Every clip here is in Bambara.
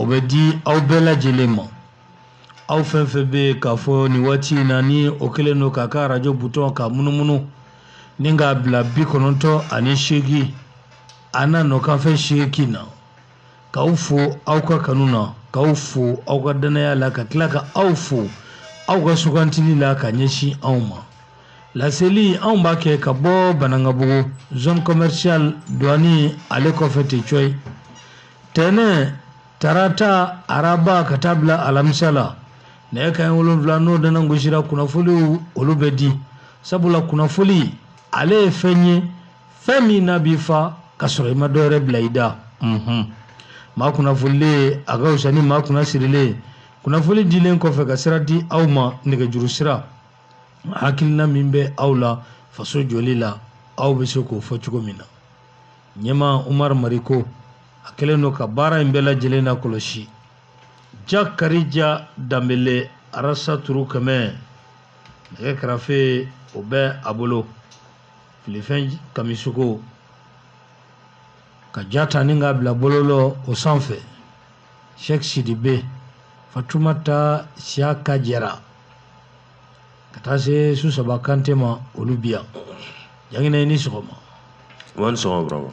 o bɛ di aw bɛɛ lajɛlen ma aw fɛn fɛn bɛ yen k'a fɔ nin waati in na ni o kɛlen don k'a ka arajo butɔn ka munumunu ni k'a bila bi kɔnɔntɔn ani seegin a n'a nɔkanfɛ seegin na k'aw fo aw ka kanu na k'aw fo aw ka dannaya la ka tila ka aw fo aw ka sugantili la ka ɲɛsin anw ma laseli anw b'a kɛ ka bɔ banangabugu zone commerciale douane ale kɔfɛ ten cɔyi tɛnɛ tarata araba ka taa bila alamisa la nɛgɛ kanɲɛ wolonwula n'o dana gosira kunnafoniw olu bɛ di sabula kunnafoni ale ye fɛn ye fɛn min n'a b'i fa ka sɔrɔ i ma dɔ wɛrɛ bila i da maa kunnafonilen a ka fisa ni maa kunnasirilen kunnafoni dilen kɔfɛ ka sira di aw ma nɛgɛjuru sira hakilina min bɛ aw la faso jɔli la aw bɛ se k'o fɔ cogo min na ɲɛma umar mariko a kɛlen don ka baara in bɛɛ lajɛlen na kɔlɔsi jakarija danbele arasa turu kɛmɛ nɛgɛ kɛrɛfɛ o bɛ a bolo filifɛn kamisoko ka ja ta ni k'a bila bɔlɔlɔw sanfɛ sɛk sidibe fatumata siyaka jara ka taa se susaba kante ma olu bi yan jankina i ni sɔgɔma wa ni sɔgɔma burama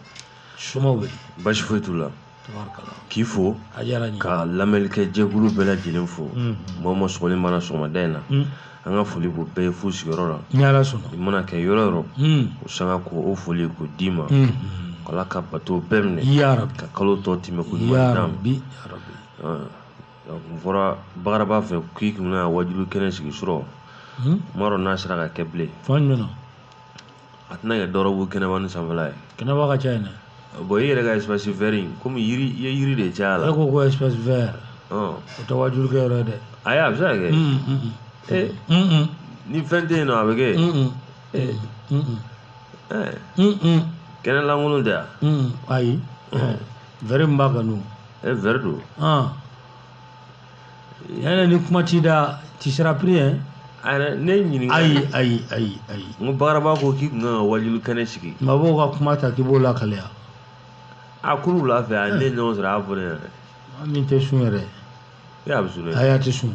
somaw bɛ basi foyi t'u la tabarikala k'i fo a diyara n ye ka lamɛnlikɛ jɛkulu bɛɛ lajɛlen fo Mhm. mɔgɔ ma sɔgɔli mana sɔgɔmada in na Mm. an ka foli b'o bɛɛ ye fo sigiyɔrɔ la ni ala sɔnna i mana kɛ yɔrɔ yɔrɔ Mm. o sanga ko o foli ko d'i ma Mm. ala ka bato bɛɛ minɛ yarabi ka kalo tɔ tɛmɛko ɲuman d'an ma yarabi yarabi Ɔn. N fɔra bagaraba fɛ k'i tun bɛna wajuli kɛnɛ sigi surɔ n m'a dɔn n'a sera ka kɛ bilen fan jumɛn na a tɛna kɛ dɔrɔgu kɛnɛba ni sanfɛla ye kɛnɛba ka ca yen dɛ bon i yɛrɛ ka espace vert kɔmi yiri i ye yiri de caya a la e ko ko espace vert o tɛ wajuli kɛ yɔrɔ ye dɛ ayi a bɛ se ka kɛ ee ni fɛn tɛ yen nɔ a bɛ kɛ kɛnɛ lankolon tɛ yan ayi vert b'a ka n'u e vert don ah. yɛrɛ ni kuma t'i da tu seras pris yɛ ayɛrɛ ne ɲininka ayi ayi ayi ayi n ko bagaraba ko k'i tun kan ka wajuli kɛnɛ sigi mabɔw ka kuma ta k'i b'o lakaleya a kuru wula fɛ a ne ɲɔgɔn sɔrɔ a y'a fɔ ne ɲɛna min tɛ sun yɛrɛ ayi a bɛ sun dɛ ayi a tɛ sun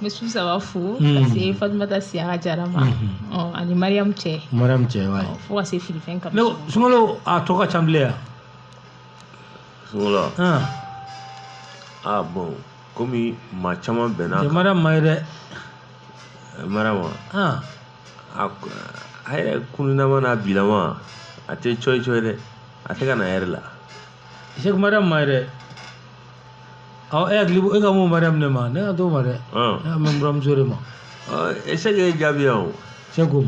n bɛ su saba fo mm. ka se fatumata siyaka jara ma mm-hmm. ɔ ani mariyamu cɛ mariyamu cɛ wa fo ka se filifɛn kama ne sunkalo a tɔ ka ca bilen yan sunkalo a bon komi maa caman bɛnna kan mariyamu ma ye dɛ mariyamu a a yɛrɛ kununama n'a bilama a tɛ cɔyi cɔyi dɛ a tɛ ka na a yɛrɛ la sɛku mariyamu ma ye dɛ ɔ e hakili e kan bɛ mariyamu de ma ne kan t'o ma dɛ ne kan bɛ buramuso de ma e sɛki y'e jaabi yan o sɛki ko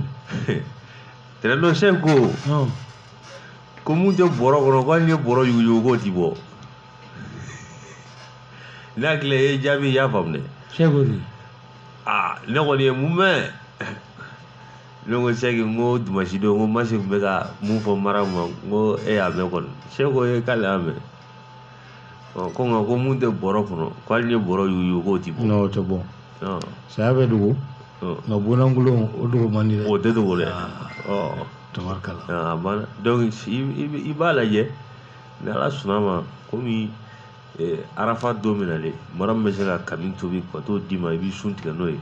tɛnɛndon sɛki ko mun tɛ bɔrɔ kɔnɔ ko hali n'i ye bɔrɔ yuguyugu k'o ti bɔ ne hakili a y'e jaabi i y'a faamu dɛ sɛki ko di aa ne kɔni ye mun mɛn ne ko sɛki n ko dimansi don n ko masi tun bɛ ka mun fɔ mariyamu ma n ko e y'a mɛn kɔni sɛki ko k'ale y'a mɛn Ɔ ko nka ko mun tɛ bɔrɔ kɔnɔ ko hali n'i ye bɔrɔ yuguyugu k'o tɛ bɔ non o tɛ bɔ saya bɛ dogo nka bololankolon o dogo man di o tɛ dogo dɛ tabarikala i b'a lajɛ ni ala sɔnna ma komi arafa don min nalen mariyamu bɛ se ka kami tobi ka t'o d'i ma i b'i sun tigɛ n'o ye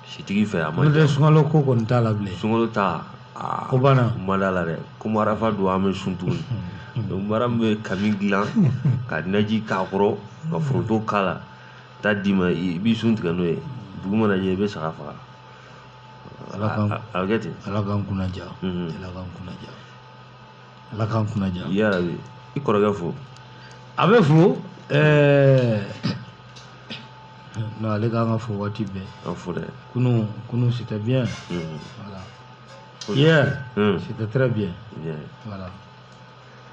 fitiri fɛ a ma n'o tɛ sunkalo ko kɔni t'a la bilen sunkalo ta aa o banna ma d'a la dɛ komi arafa don an bɛ sun tuguni donc mariyamu bɛ kami dilan ka naji k'a kɔrɔ ka foronto k'a la taa d'i ma i b'i sun tigɛ n'o ye dugu mana jɛ i bɛ saga faga ala k'an a a bɛ kɛ ten ala k'an kunna diya Mhm. ala k'an kunna diya ala k'an kunna diya yarabi i kɔrɔkɛ fo a bɛ fo ɛɛ Non ale kan ka fo waati bɛɛ. An fo dɛ. Kunun kunun c'était bien. Unhun. Voilà. Hier. Unhun. C'était très bien. Bien. Voilà.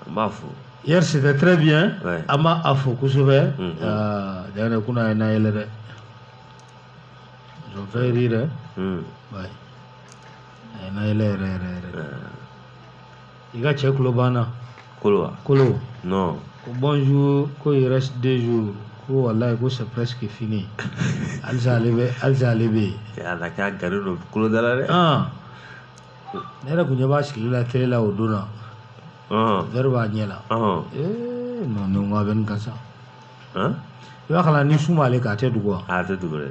An b'a fo. Hier c'était très bien. Ouais. An b'a a fo kosɛbɛ. Unhun. Aa tiɲɛ yɛrɛ kunun a y'an nayɛlɛ dɛ. Ils ont fait rire hein. Unhun. Ouais. A y'an nayɛlɛ yɛrɛ yɛrɛ yɛrɛ. Ɛɛ. i ka cɛ kulo banna kolo wa kolo non ko bonjour ko il reste deux jours ko wallahi ko c'est presque fini halisa ale bɛ halisa ale bɛ yen ala k'a gari don kolo dala dɛ ah ne yɛrɛ kun ɲɛ b'a sigili la tele la o don na vɛri b'a ɲɛ la ee non nin ko a bɛ nin kan sa i b'a kalan ni sun b'ale kan a tɛ dogo wa a tɛ dogo dɛ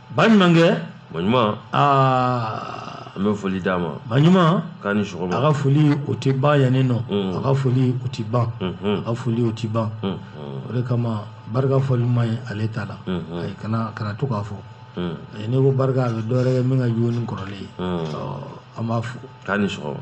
baɲuman kɛ baɲuman aa an bɛ foli d'a ma baɲuman k'a ni sɔgɔma a ka foli o tɛ ban yanni nɔ mm. a ka foli o tɛ ban mm-hmm. a ka foli o tɛ ban mm-hmm. o de kama barika fɔli man ɲi ale ta la mm-hmm. ayi kana kana to k'a fɔ mm. ayi n'i ko barika a bɛ dɔ wɛrɛ kɛ min ka jugu ni kɔrɔlen ye an b'a fo k'a ni sɔgɔma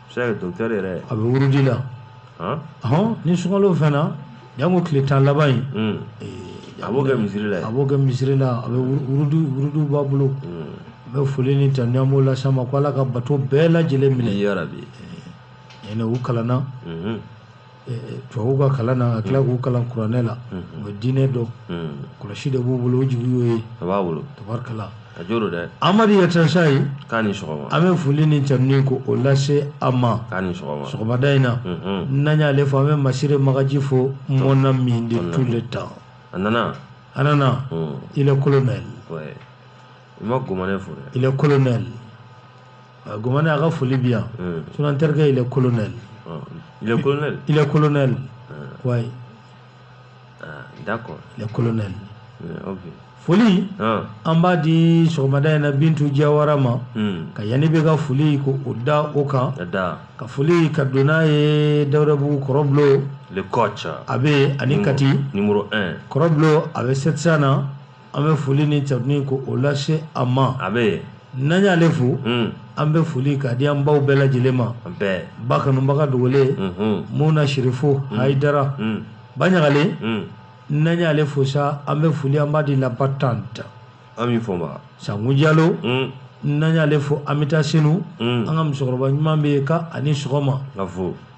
c'est docteur yɛrɛ a bɛ wurudi la hɔn ni sunkalo fɛnna janko tile tan laban in hmm. eh, a b'o kɛ misiri la a b'o kɛ misiri la a bɛ wurudi wurudi b'a bolo hmm. an bɛ foli ni tanu an b'o las'a ma ko ala ka bato bɛɛ lajɛlen minɛ yarabi eh, ɲinɛ u kalanna hmm. tubabu ka kalan na ka tila k'u kalan kuranɛ la u bɛ diinɛ dɔn kɔlɔsi de b'u bolo o jigi y'o ye a b'a bolo tabarikala a jo don dɛ amadu yatasaye k'a ni sɔgɔma an bɛ foli ni tanuni ko o lase a ma k'a ni sɔgɔma sɔgɔmada in na n'an y'ale fɔ an bɛ masire magaji fo mon ami de tout le temps a nana a nana il est colonel ouais. i ma gomane fo dɛ il est colonel gomane a ka foli bi yan sinon n terikɛ il est colonel il est colonel il est colonel ouais d'accord il est colonel ok foli an b'a di sɔgɔmada in na bintu jawara ma ka yanni bɛ ka foli ko o da o kan ka foli ka don n'a ye dawudabugu kɔrɔbulo a bɛ ani kati kɔrɔbulo a bɛ sept cents na an bɛ foli ni tanuni ko o lase a ma a bɛ n'an y'ale fo hmm. an bɛ foli k'a di an baw bɛɛ lajɛlen ma ba kanubaga dogolen hmm. muna sirifo hmm. hayidara ba ɲagalen n'an y'ale fo sa an bɛ foli an b'a di la battante ami fɔnba sango jalo n'an y'ale fo an bɛ taa senu an ka musokɔrɔba ɲuman bɛ yen ka ani sɔgɔma ka fo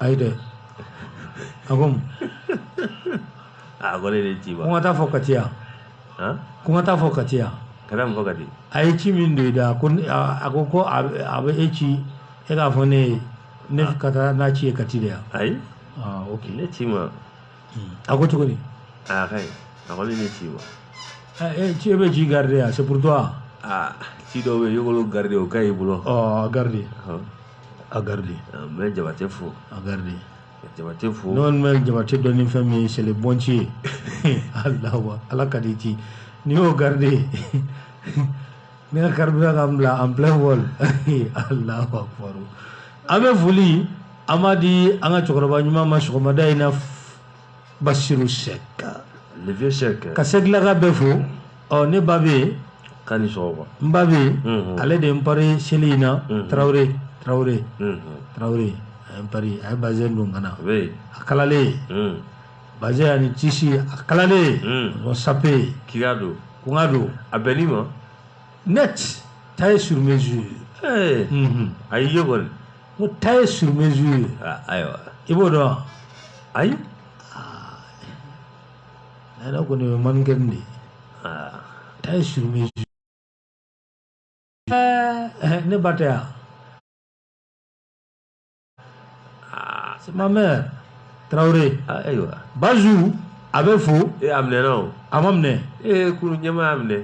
ayi dɛ a ko mun a ko ne de ci ko n ka taa fɔ kati yan ko n ka taa fɔ kati yan ka taa mun fɔ kati a ye ci min don i da ko a ko ko a bɛ e ci e k'a fɔ ne ye ne ka taa n'a ci ye kati de yan ayi ok ne ci ma a ko cogo di aa ka ɲi a ko ne ne ci ma e ci e bɛ ci garder yan c'est pour toi aa ci dɔw bɛ yen i k'olu garder o ka ɲi i bolo ɔ a garder Ɔhɔ. a garder Aa, n bɛ jabate fo a garder ka jabate fo ne kɔni bɛ jabate dɔn ni fɛn min ye c'est le bon ci ye alawa ala ka di ci n'i y'o garder Ne ka carburant ka bila en plein vol alahu akbar an bɛ foli an b'a di an ka cɛkɔrɔba ɲuman ma sɔgɔmada in na basiru sɛki ka sɛkilaka bɛɛ fo ɔ ne ba bɛ yen ka ni n ba bɛ yen ale de ye n pari seli in na tarawele tarawele tarawele a ye bazɛn don ka na a kalalen Bazin ani tisi a kalalen hmm. o sape k'i k'a don ko n k'a don a bɛnn'i ma net taille sur mesure mhm. a y'i ye kɔni ko taille sur mesure ah, ayiwa i b'o dɔn wa ayi ah. ne yɛrɛ kɔni bɛ mannequin de ye ah. taille sur mesure eh, eh, ne ba tɛ yan Ah, c'est ma mère. Traoré. Ah, ayiwa. Bazou a bɛ fo. Ee a minɛna o. A ma minɛ. Ee kulu ɲɛma y'a minɛ.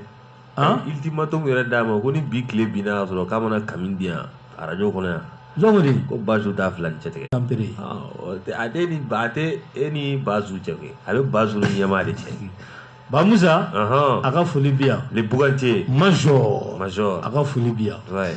Han. Ultimatum yɛrɛ d'a ma ko ni bi tile binna ka sɔrɔ k'a ma na kami di yan arajo kɔnɔ yan. Jɔn de. Ko Bazou t'a fila ni cɛ tigɛ. Tanpere. Awɔ a tɛ ni ba a tɛ e ni Bazou cɛ koyi a bɛ Bazou ni ɲɛma de cɛ. Ba Musa. Ɔhɔn. A ka foli bi yan. Le Bugance. Major. Major. A ka foli bi yan. Ouais.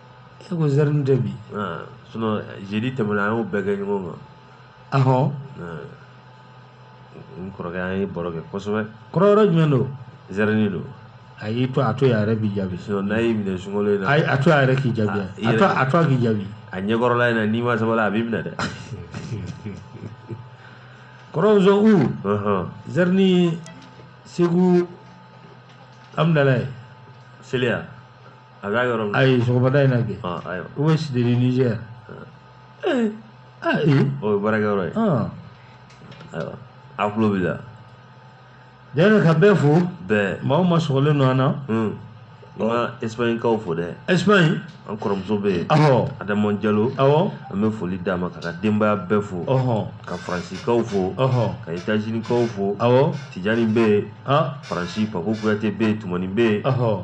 E ko Jardin tɛ bi aa sinon jeudi tɛmɛna an y'o bɛɛ kɛ ɲɔgɔn kan ahɔ aa n kɔrɔkɛ an ye baro kɛ kosɛbɛ kɔrɔ yɔrɔ jumɛn don Jardin don ayi to a to yen a yɛrɛ b'i jaabi sinon n'a y'i minɛ sunkalo in na ayi a to a yɛrɛ k'i jaabi Ah, i a to yɛrɛ- a to a k'i jaabi a ɲɛkɔrɔla in na n'i ma sabali a b'i minɛ dɛ kɔrɔ Zɔn u Ɔhɔn. Jardin Segu Amdalaye seliya a ka yɔrɔ la ayi sɔgɔmada in na kɛ ɔ ayiwa u bɛ Cité du Niger ee aa ee o ye baarakɛyɔrɔ ye ɔn ayiwa a tulo b'i la dɛrɛ ka bɛɛ fo bɛɛ maa o maa sɔgɔlen don an na un n ka esipaɲikaw fo dɛ ɛsipaɲi an kɔrɔmuso bɛ yen awɔ adama jalo awɔ an bɛ foli d'a ma k'a ka denbaya bɛɛ fo ɔhɔn ka faransikaw fo ɔhɔn ka etazinikaw fo awɔ tijani bɛ yen aa faransi pako kuyate bɛ yen tumani bɛ yen ɔhɔn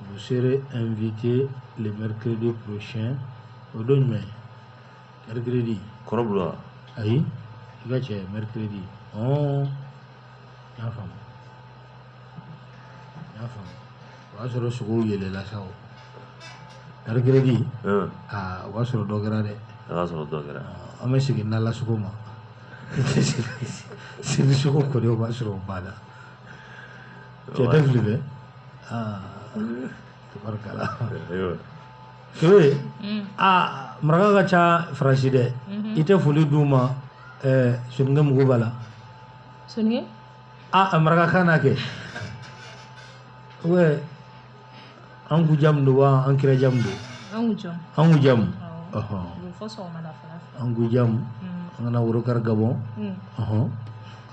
Vous serez invité le mercredi prochain o don jumɛn mercredi kɔrɔbula ayi i ka cɛ mercredi ɔn n y'a faamu n y'a faamu o y'a sɔrɔ sogow yɛlɛla sa o mercredi un aa o b'a sɔrɔ dɔ kɛra dɛ a ka sɔrɔ dɔ kɛra an bɛ segin n'ala sogo ma seli sogo kɔni o b'a sɔrɔ o banna ke da fili bɛ tabarikala kebe a maraka ka ca faransi dɛ i tɛ foli d'u ma Soninke mugu b'a la Soninke a marakakan na kɛ an ku jamu don wa an kira jamu don an ku jamu an ku jamu an ku jamu an kana worokari gabɔn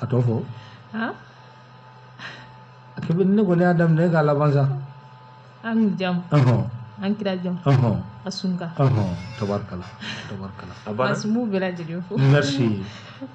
a tɔ fɔ a kɛ bɛ ne kɔni y'a daminɛ k'a laban sa an ku jamu an kira jamu a sunka tabarikala tabarikala a b'a sumu bɛɛ lajɛlen fo merci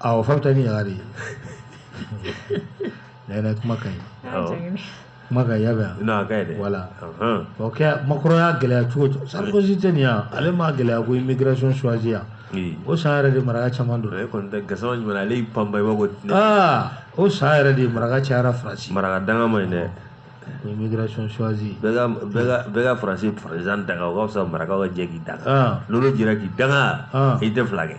a o fata ni yagare na yana kuma ka ɲi kuma ka yaga ina ga da voilà o ke macron y'a gɛlɛya cogo o cogo sarkozy tɛ nin ya ale m'a gɛlɛya ko immigration choisie ya o san yɛrɛ de maraka caman don ale kɔni tɛ gasama jumɛn ale y'i panba i b'a ko aa o san yɛrɛ de maraka cayara faransi maraka danga man ɲi dɛ ko immigration choisie bɛɛ ka faransi président danga o ka fisa marakaw ka jɛ k'i danga n'olu jɛra k'i danga i tɛ fila kɛ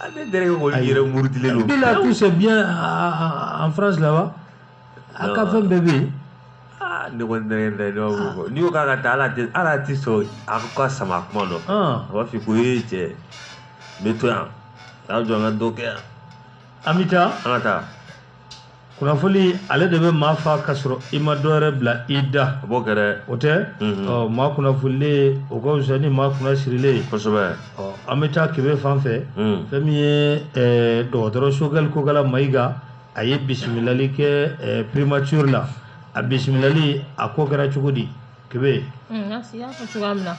ale dɛrɛ ko olu yɛrɛ murutilen don bila tout c'est bien en France là-bas a ka fɛn bɛɛ bɛ yen ah, ne kɔni dɛrɛ dɛ ne b'a fɔ n'i ko k'a ka taa ala tɛ ala tɛ sɔn a ka sama kuma dɔ a b'a f'i ko ee cɛ n bɛ to yan a jɔ an ka dɔ kɛ yan an bɛ taa an ka taa kunnafoni ale de bɛ maa fa ka sɔrɔ i ma dɔ wɛrɛ bila i da a b'o kɛ dɛ o tɛ maa kunnafonilen o ka fisa ni maa kunna sirilen ye kosɛbɛ an bɛ taa kebe fan fɛ fɛn min ye dɔgɔtɔrɔ sogɛli kokala mayiga a ye bisimilali kɛ primature la a bisimilali a ko kɛra cogo di kebe masi y'a fɔ cogoya min na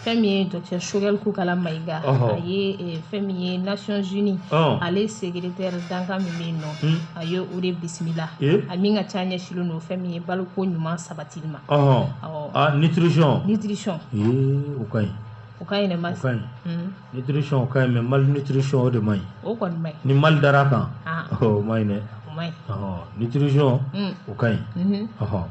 fɛn min ye docteur sogɛli kokala mayiga a ye fɛn min ye nations unies ale secrétaire dankan min bɛ yen nɔ a ye o de bisimila a min ka ca ɲɛsilen don fɛn min ye baloko ɲuman sabatili ma ɔhɔn nutrition nutrition o ka ɲi o ka ɲi dɛ masi o ka ɲi nutrition o ka ɲi mais malnutrition o de man ɲi o kɔni man ɲi ni mal dara kan o man ɲi dɛ o man ɲi nutrition o ka ɲi ɔhɔn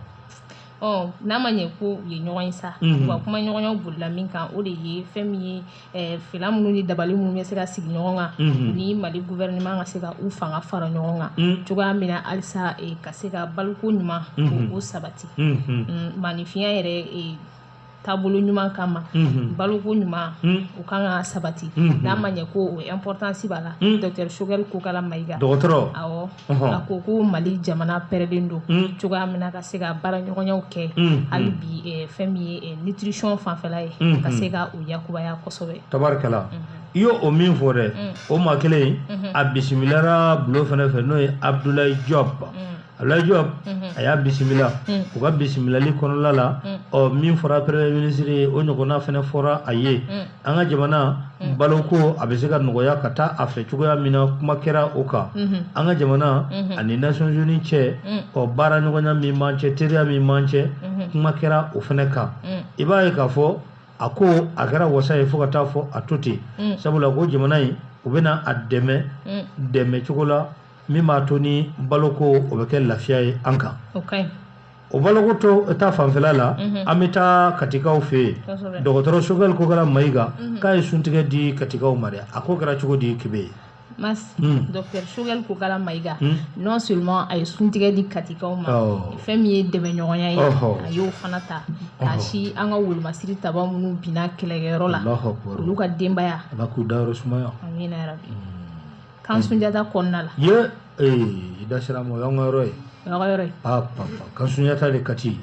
ɔ n'a ma ɲɛ ko u ye ɲɔgɔn ye sa u ka kumaɲɔgɔnyaw bolila min kan o de ye fɛn min ye eh, fila minnu ni dabali minnu bɛ se ka sigi ɲɔgɔn kan u ni mali gouvernement ka se ka u fanga fara ɲɔgɔn kan cogoya min na halisa eh, ka se ka baloko ɲuman ko o sabati Mm, maaninfinya yɛrɛ eh, taabolo ɲuman kama mhm. baloko ɲuman mhm. o kan ka sabati mhm. n'a ma ɲɛ ko o importance b'a la docteur sogɛli kokala mayiga dɔgɔtɔrɔ awɔ a ko ko mali jamana pɛrɛlen don cogoya min na ka se ka baaraɲɔgɔnyaw kɛ hali bi eh, fɛn min ye eh, nutrition fanfɛla ye ka se ka o yakubaya kosɛbɛ tabarikala i y'o o min fɔ dɛ o maa kelen a bisimilara bulo fɛnɛ fɛ n'o ye abdulayi jɔb Abdoulaye Diop a y'a bisimila u ka bisimilali kɔnɔla la ɔ min fɔra premier ministre ye o ɲɔgɔnna fana fɔra a ye an ka jamana baloko a bɛ se ka nɔgɔya ka taa a fɛ cogoya min na kuma kɛra o kan an ka jamana ani Nations Unies cɛ ɔ baara ɲɔgɔnya min b'an cɛ teriya min b'an cɛ kuma kɛra o fana kan i b'a ye k'a fɔ a ko a kɛra wasa ye fo ka taa fɔ a to ten sabula ko jamana in u bɛna a dɛmɛ dɛmɛ cogo la min b'a to ni baloko o bɛ kɛ lafiya ye an kan o baloko to ta fanfɛla la mhm. an bɛ taa katikaw fɛ yen dɔgɔtɔrɔ Choguel Kokalla Maïga mhm. k'a ye suntigɛ di katikaw ma dɛ a ko kɛra cogo di kebe ye Mas, mm. Dr. Choguel Kokalla Maïga, mm. non seulement a ye suntigɛ di katikaw ma oh. fɛn min ye dɛmɛɲɔgɔnya ye oh. a y'o fana ta k'a oh. sin an ka wolomasiri taba minnu binna kɛlɛkɛyɔrɔ la olu ka denbaya ala k'u dayɔrɔ sumaya amina yarabi mm. Kan sunjata kɔnɔna la ye ee da sera mɔgɔ an ka yɔrɔ ye yɔrɔ kan sunjata de kati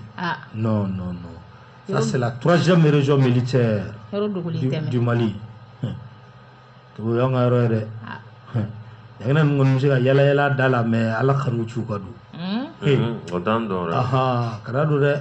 nɔn nɔn nɔn turasɛ mierezson mili cɛ di mali to y an ka yɔrɔ yɛrɛ dɛ a ninnu se ka yɛlɛy da la mɛ ala ka ci ka don ee o dan don dɛ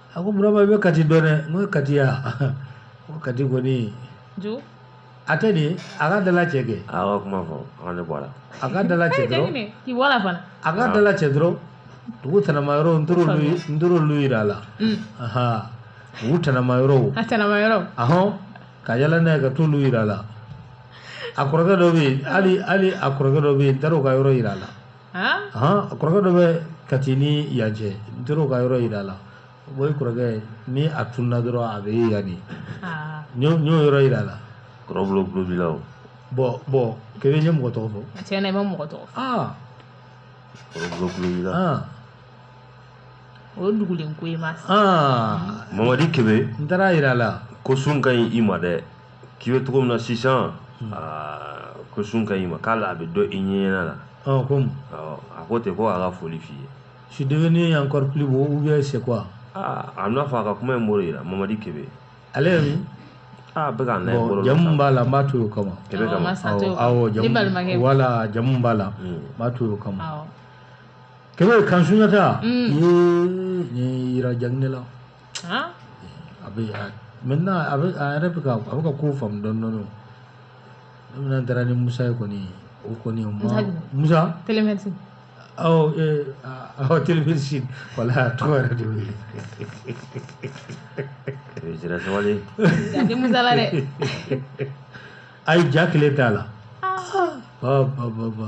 a ko burama i bɛ kati dɔn dɛ n ko kati ya ko kati kɔni jo a tɛ de a ka da lajɛ kɛ a ka kuma fɔ a ka ne bɔ a la a ka da lajɛ dɔrɔn k'i bɔ a la fana a ka da lajɛ dɔrɔn dugu tɛnɛma yɔrɔ n taar'olu ye n taar'olu yira a la ahan dugu tɛnɛma yɔrɔw a tɛnɛma yɔrɔ ahɔn ka yala n'a ye ka t'olu yira a la a kɔrɔkɛ dɔ bɛ yen hali hali a kɔrɔkɛ dɔ bɛ yen n taar'o ka yɔrɔ yira a la kɔrɔkɛ dɔ bɛ kati ni yan cɛ n taar'o ka yɔrɔ yira a la o kɔrɔkɛ ni a tununna dɔrɔn a bɛ ye yan de n y'o yɔrɔ yira a la kɔrɔlaw bon bon kebe ye mɔgɔ tɔgɔ fɔ cɛ bɛ mɔgɔ tɔgɔ o dugulen ko Mas mamadi kebe n taar'a yira a la ko sun ka ɲi i ma dɛ k'i bɛ cogo min na sisan aa ko sun ka ɲi i ma k'ale a bɛ dɔn i ɲɛɲɛna la ɔ ko awɔ a ko ten ko a ka foli f'i ye je suis devenu encore plus beau ou bien c'est quoi aa a n'a fɔ a ka kuma in b'o de la mamadi kebe ale ye min aa bɛ ka n'a ye bolo la jamu min b'a la n b'a to o kama kebe kama awɔ awɔ jamu balimakɛ voilà jamu min b'a la n Mm. b'a to o kama awɔ kebe camp Soundiata ye nin yira Diagne la Aa a bɛ maintenant a bɛ a yɛrɛ bɛ ka a bɛ ka ko faamu dɔɔnin dɔɔnin ne taara ni musa ye kɔni o kɔni musa télémédecine télémédecine voilà tɔgɔ yɛrɛ de y'o ye jira sabali musa la dɛ a ye ja kelen t'a la ba ba ba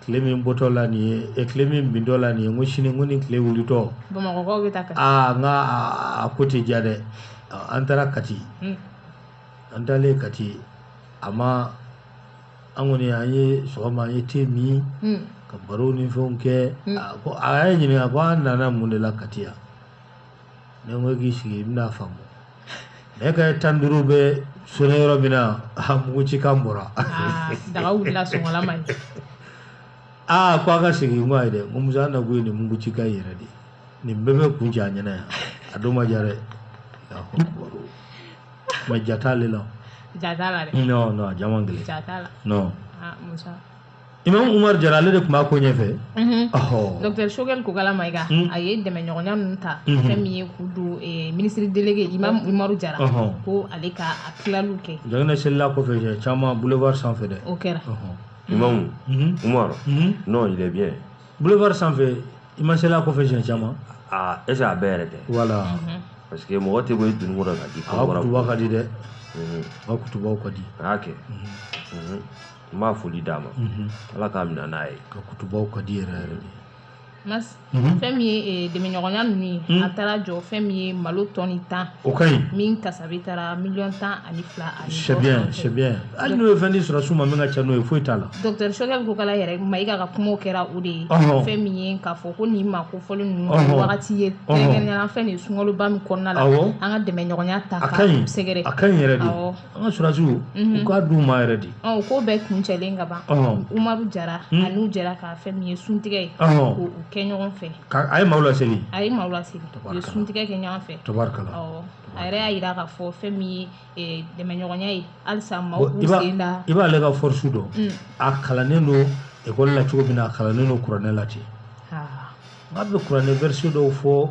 tile min bɔtɔ la nin ye e tile min bintɔ la nin ye n ko sini ko ni tile wulitɔ bamakɔkaw bɛ taa kati aa n ka a ko tɛ diya dɛ an taara kati hmm. an taalen kati a ma an kɔni an ye sɔgɔma an ye te min hmm. ka baro ni fɛnw kɛ hmm. a ko a y'a ɲininka ko an nana mun de la kati yan ne ko k'i sigi i bɛna faamu ne ka tan duuru bɛ sonné yɔrɔ min na a mugucikan bɔra ah, daga wulila sɔngɔla man ɲi aa ko a ka segin n ko ayi dɛ n ko musa na ko ye nin mugucikan yɛrɛ de nin bɛɛ bɛ kuncɛ a ɲɛna yan a don ma diya dɛ mais ja t'ale la ja t'a la dɛ non non a ja man gɛlɛn ja t'a la non ah, musa Imam umaru jara ale de tun b'a ko ɲɛfɛ docteur sogɛl kokala mayiga ye dɛmɛɲɔgɔnya ninnu ta fɛn min ye k'u don ministre délégué imam umaru jara ko ale ka tilaliw kɛ ja selila kɔfɛ caman boulevard sanfɛ dɛ o kɛra imam umaru n'o yɛrɛ bɛ boulevard sanfɛ i ma selila kɔfɛ caman aaa est-ce que a bɛɛ yɛrɛ tɛ voilà parce que mɔgɔ tɛ bɔ dugu ka di ka di dɛ ka di y'a kɛ n b'a foli d'a ma ala k'a minɛ n'a ye ka kutubaw ka di yɛrɛ yɛrɛ mas mhm. fɛn min ye eh, dɛmɛɲɔgɔnya ninnu ye mhm. a taara jɔ fɛn min ye malo tɔni tan o ka ɲi min kasabi taara miliyɔn tan ani fila ani c'est bien c'est bien hali n'o ye fɛn di sɔrɔsiw ma min ka ca n'o ye foyi t'a la docteur sogɛl kokala yɛrɛ mayiga ka kumaw kɛra o de ye fɛn min ye k'a fɔ ko nin ma ko fɔli ninnu wagati ye kɛrɛnkɛrɛnnenya fɛn de ye sunkaloba min kɔnɔna la an ka dɛmɛɲɔgɔnya ta ka sɛgɛrɛ a ka ɲi yɛrɛ de an ka sɔrɔsiw u k'a d'u ma yɛrɛ de ɔ ko bɛɛ kuncɛlen ka ban umaru jara an'u jɛra ka fɛn min ye suntigɛ ye k'u kɛ ɲɔgɔn fɛ a ye maaw laseli a ye maaw laseli u ye suntigɛ kɛ ɲɔgɔn fɛ tabarikala awɔ a yɛrɛ y'a yira k'a fɔ fɛn min ye dɛmɛɲɔgɔnya ye halisa maaw b'u sen da i b'ale ka force dɔn a kalannen don ekɔli la cogo min na a kalannen don kuranɛ la ten nka a bɛ kuranɛ verset dɔw fɔ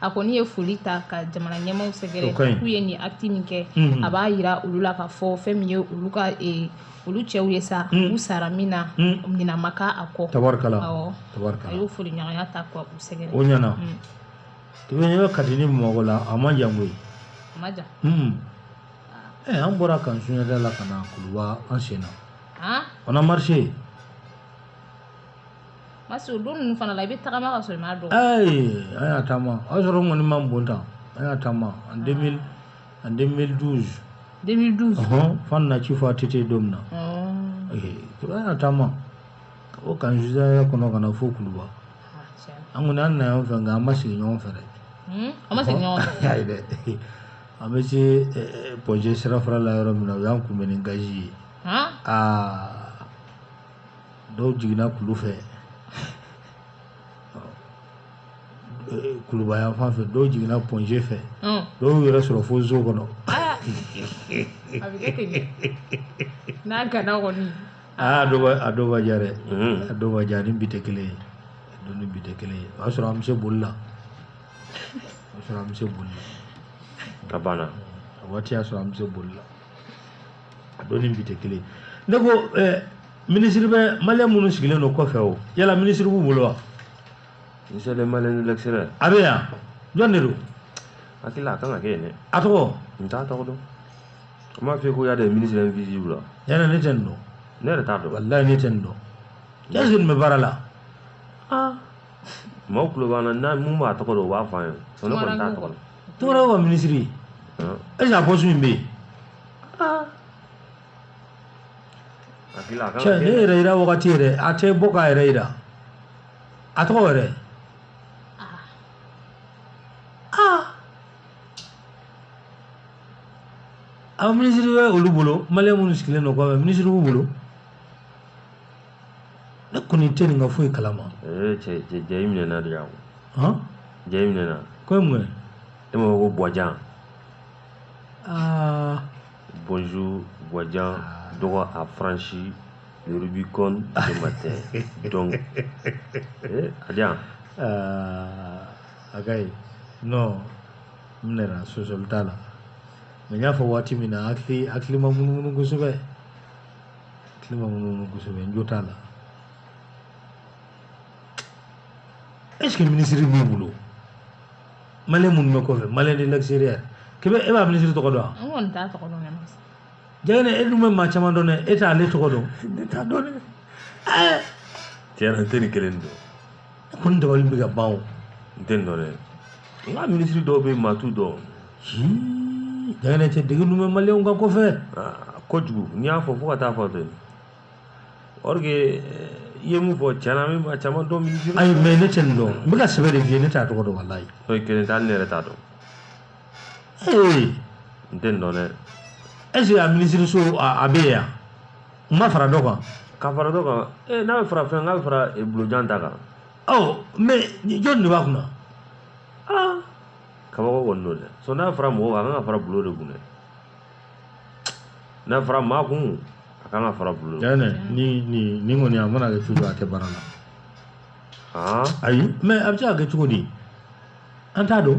a kɔni ye foli ta ka jamana ɲɛmaaw sɛgɛrɛ k'u ye nin acte min kɛ mhm. a b'a jira olu la k'a fɔ fɛn min ye olu ka e, olu cɛw ye sa mhm. u sara min na mhm. ɲina ma k'a kɔ tabarikala a y'o foli ɲɔgɔnya ta ka u sɛgɛrɛ o ɲana tulonkɛ kati ni bamakɔ la a man jan koyi a man jan ɛ eh, an bɔra camp sunjata la ka na kuluba an sen na on a marché Mas o don ninnu fana la i bɛ taama ka sɔrɔ i m'a dɔn ayi an y'a taama o y'a sɔrɔ n kɔnɔ ma bon tan an y'a taama en en deux mille douze fan na ci fɔ ATT don min na an y'a taama ka bɔ camp sunjata kɔnɔ ka na fo kuluba an kɔni an nana ɲɔgɔn fɛ nka an ma segin ɲɔgɔn fɛ dɛ an bɛ se pɔnze sirafara la yɔrɔ min na u y'an kunbɛn ni gazi ye aa dɔw jiginna kulu fɛ kuluba yan fan fɛ dɔw jiginna pɔnze fɛ dɔw y'u yɛrɛ sɔrɔ fo zo kɔnɔ n'a gana kɔni aa a dɔw b'a diya dɛ a dɔw b'a diya ni bi tɛ kelen ye don ni bi tɛ kelen ye o y'a sɔrɔ an bɛ se boli la o y'a sɔrɔ an bɛ se boli la ka ban a waati y'a sɔrɔ an bɛ se boli la a don ni bi tɛ kelen ne ko ɛɛ minisiri bɛ maliyɛn minnu sigilen don kɔfɛ o yala minisiri b'u bolo wa. Ministre des maliens de l'extérieur. A bɛ yan jɔn de don. Hakili la a kan ka kɛ yen dɛ. A tɔgɔ. N t'a tɔgɔ dɔn. N b'a f'i ye ko y'a des ministres invisibles la. Yala ne tɛ nin dɔn. Ne yɛrɛ t'a dɔn. Walayi ne tɛ nin dɔn. Est-ce que nin bɛ baara la. Aa. Maaw tulo b'an na n'a min b'a tɔgɔ dɔn u b'a fɔ an ye. Sinon ne kɔni t'a tɔgɔ dɔn. Tora wa minisiri est-ce que a poste min bɛ yen cɛ ne yɛrɛ yira wagati yɛrɛ a tɛ bɔ k'a yɛrɛ yira a tɔgɔ yɛrɛ aw minisiri bɛ olu bolo maliyɛn minnu sigilen don kɔfɛ minisiri b'u bolo ne kɔni tɛ nin ka foyi kalama ee cɛ cɛ cɛ i minɛna de yan han cɛ i minɛna k'o ye mun ye e m'a fɔ ko buwajan aa bonjour buwajan dɔgɔ a franchi le rubicon ce matin donc ee a di yan aa a ka ɲi non n minɛna sɔsɔli t'a la mɛ n y'a fɔ waati min na hakili hakili ma munumunu kosɛbɛ hakili ma munumunu kosɛbɛ n jo t'a la est ce que minisiri b'u bolo maliyɛn minnu bɛ kɔfɛ maliyɛn de l'extérieur k'i bɛ e b'a minisiri tɔgɔ dɔn wa. n kɔni t'a tɔgɔ dɔn dɛ. jɛgɛnɛ e dun bɛ maa caman dɔn dɛ e t'ale tɔgɔ dɔn. ne t'a dɔn dɛ. tiɲɛ na n tɛ nin kelen dɔn. kɔni dabali bɛ ka ban o n tɛ nin dɔn dɛ nka minisiri dɔw bɛ maa t'u dɔn jɛgɛnɛ cɛ dege dun bɛ maliyɛnw ka ko fɛ kojugu n'i y'a fɔ fo ka taa fɔ ten or que i ye mun fɔ tiɲɛ na n bɛ maa caman dɔn minisiri ayi mɛ ne tɛ nin dɔn n bɛ ka sɛbɛ de f'i ye ne t'a tɔgɔ dɔn walayi e kelen tɛ hali ne yɛrɛ t'a dɔn ee n tɛ nin dɔn dɛ est ce que a minisiriso a a bɛ yen yan n'a ma fara dɔ kan ka fara dɔ kan ee n'a bɛ fara fɛn kan a bɛ fara eh, bulojan ta kan ɔ mɛ jɔni de b'a kunna aa kabako kɔni don dɛ so n'a fara mɔgɔ kan a kan ka fara bulo de kun dɛ n'a fara maa kun a kan ka fara bulo de kun. yanni ni ni ni kɔni a mana kɛ cogo a tɛ baara la aa ayi mɛ a bɛ se ka kɛ cogo di an t'a dɔn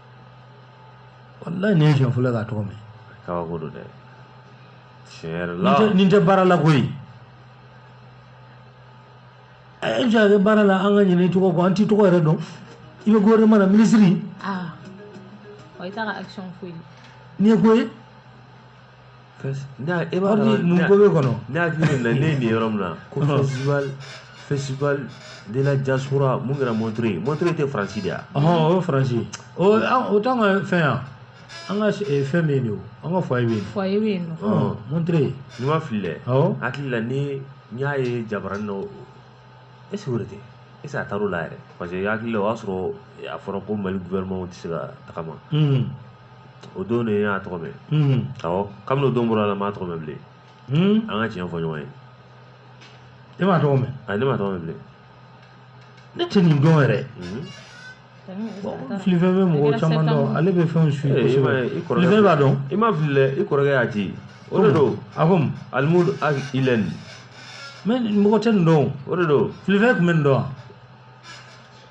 wallahi ne siɲɛ fɔlɔ k'a tɔgɔ mɛn kabako don dɛ tiɲɛ yɛrɛ la nin tɛ baara la koyi e bɛ se ka kɛ baara la an ka ɲinɛ i tɔgɔ kɔ an t'i tɔgɔ yɛrɛ dɔn i bɛ gouvernement na minisiri ah ɔ i t'a ka action foyi nin ye ko ye e b'a dɔn mun ko bɛ kɔnɔ ne hakili bɛ na ne ye nin yɔrɔ min na ko festival festival de la diaspora mun kɛra Montreuil Montreuil tɛ Faransi de wa ɔhɔn o ye Faransi ye o t'an ka fɛn yan an ka fɛn bɛ yen de o an ka foyer bɛ yen foyer bɛ yen nɔ Montreuil ni n ma fili dɛ awɔ hakili la ni n y'a ye jabaranin na est ce que o de tɛ est ce que a taar'o la yɛrɛ parce que hakili la o y'a sɔrɔ a fɔra ko Mali gouvernement tɛ se ka tagama o don de y'a tɔgɔ mɛn awɔ kabini o don bɔra la n m'a tɔgɔ mɛn bilen an ka tiɲɛ fɔ ɲɔgɔn ye e m'a tɔgɔ mɛn a ne m'a tɔgɔ mɛn bilen ne tɛ nin dɔn yɛrɛ filifɛn bɛ mɔgɔ caman dɔn ale bɛ fɛnw suivre kosɛbɛ filifɛn b'a dɔn i ma fili dɛ i kɔrɔkɛ y'a ci o de don a ko Alhamdou Ag Ilyène mais mɔgɔ tɛ nin dɔn o de don filifɛn tun bɛ nin dɔn wa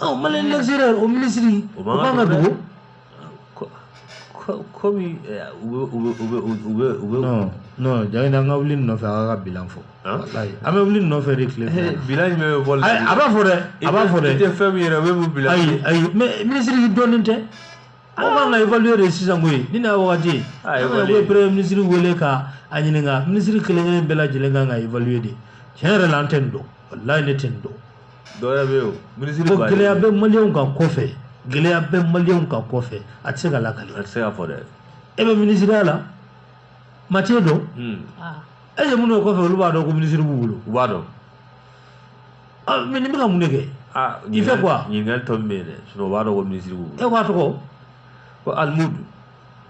ɔ Maliens l'extérieur o minisiri o b'an ka dugu komi u bɛ u bɛ non Jangine an ka wuli nɔfɛ a k'a ka bilan fɔ walayi an bɛ wuli nɔfɛ de tile fɛ bilan jumɛn bɛ bɔ a b'a fɔ dɛ a b'a fɔ dɛ i tɛ fɛn min yɛrɛ o bɛ mun bilan ayi ayi mais minisiri dɔnnen tɛ aw b'an ka évaluer de sisan koyi nin y'a wagati ye u bɛ premier minisiri wele ka a ɲininka minisiri kelen kelen bɛɛ lajɛlen kan ka évaluer de tiɲɛ yɛrɛ la an tɛ nin dɔn walayi ne tɛ nin dɔn dɔwɛrɛ bɛ yen minisiri ko gɛlɛya bɛ maliyɛnw kan kɔfɛ gɛlɛya bɛ maliyɛnw kan kɔfɛ a tɛ se ka lakali a tɛ se ka fɔ dɛ e bɛ minisiriya la matiye dɔn est-ce que minnu bɛ kɔfɛ olu b'a dɔn ko minisiri b'u bolo u b'a dɔn mais nin bɛ ka mun de kɛ il fait quoi ɲininkali tɔ min bɛ yen dɛ u b'a dɔn ko minisiri b'u bolo e b'a tɔgɔ ko Alhamdou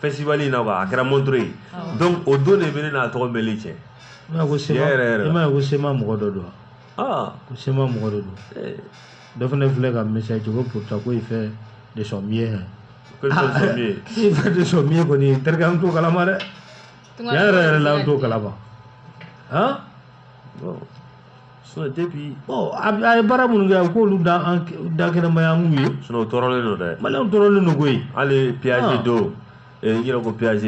festival in na quoi a kɛra Montreuil donc o don de bɛ ne n'a tɔgɔ mɛnli cɛ i m'a ye ko CMA Tiɲɛ yɛrɛ yɛrɛ la. i m'a ye ko CMA mɔgɔ dɔ don wa? ah ko CMA mɔgɔ dɔ don eh, dɔ fana filɛ ka message ci ko pourtant ko il fait de son mieux hein. que le son soit mieux. il fait de son mieux kɔni terikɛ an t'o kalama dɛ tiɲɛ yɛrɛ yɛrɛ la an t'o kalama han Bon. sinon depuis bon a ye baara minnu kɛ a k'olu da kɛnɛ ma yan an k'u ye sinon u tɔɔrɔlen don dɛ maliyɛnw tɔɔrɔlen don koyi hali PAG don n yɛrɛ ko PAG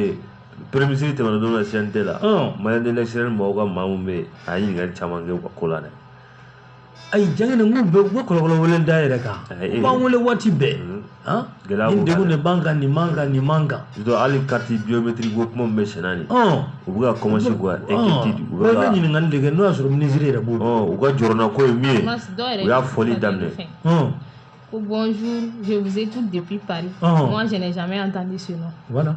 premier minisiri tɛmɛna don na CNT la Maliens de l'extérieur mɔgɔw ka maa min bɛ yen a ye ɲininkali caman kɛ u ka ko la dɛ ayi Jangine n k'u bɛ u bɛ kɔlɔkɔlɔ wele da yɛrɛ kan u b'an wele waati bɛɛ han Gɛlɛya nin b'u kan degun dɛ. de b'an kan nin man kan nin man kan Surtout hali carte biométrique ko kuma min bɛ senna nin ɔn u bɛ ka commencer k'u ka inquiétude u bɛ bɛɛ bɛ ka ɲininkali de kɛ n'o y'a sɔrɔ minisiri yɛrɛ b'o dɔn ɔ u ka jɔrɔnanko ye min ye Mais dɔw yɛrɛ u y'a ye foli fɛn daminɛ fɛn. ɔn Ko bonjour, je vous écoute depuis Paris. Ɔhɔn. Moi, je n'ai jamais entendu ce nom. voilà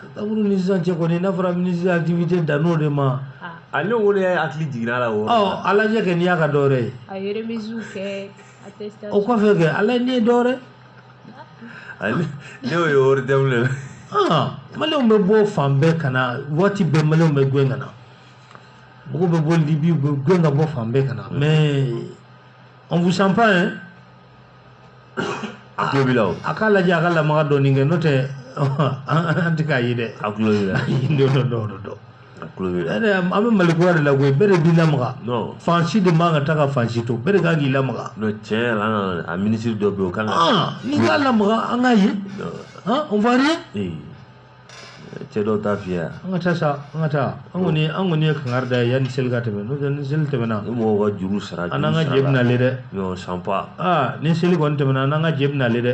septembre ni sisan cɛ kɔni n'a fɔra minisiri activité dann'o de ma a ne wolo y'a hakili jiginna a la o ɔ a lajɛ kɛ n'i y'a ka dɔwɛrɛ ye a ye remisiw kɛ o kɔfɛ kɛ a lajɛ n'i ye dɔwɛrɛ ne y'o ye wari dɛmɛ le la maliyɛnw bɛ bɔ fan bɛɛ ka na waati bɛɛ maliyɛnw bɛ gɛn ka na mɔgɔw bɛ bɔ libi u bɛ gɛn ka bɔ fan bɛɛ ka na mais on vous sent pas hein a tulo b'i la o a k'a lajɛ a ka lamaga dɔɔnin kɛ n'o tɛ an tɛ k'a ye dɛ a tulo b'i la dɔ dɔ dɔ dɔ dɔ a tulo b'i la ɛɛ an bɛ mali kura de la koyi bɛɛ de b'i lamaga non fan si de man ka taa ka fan si to bɛɛ de kan k'i lamaga non tiɲɛ yɛrɛ la an nana a minisiri dɔ bɛ yen o kan ka Ah, n'i k'a lamaga an k'a ye Non, han on va rien ee cɛ dɔw ta fiyɛ an ka taa sa an ka taa an kɔni an kɔni ye kangari d'a ye yanni seli ka tɛmɛ n'o tɛ ni seli tɛmɛna ni mɔgɔw ka juru sara an n'an ka jɛ bɛna le dɛ nous on sent pas aa ni seli kɔni tɛmɛna an n'an ka jɛ bɛna le dɛ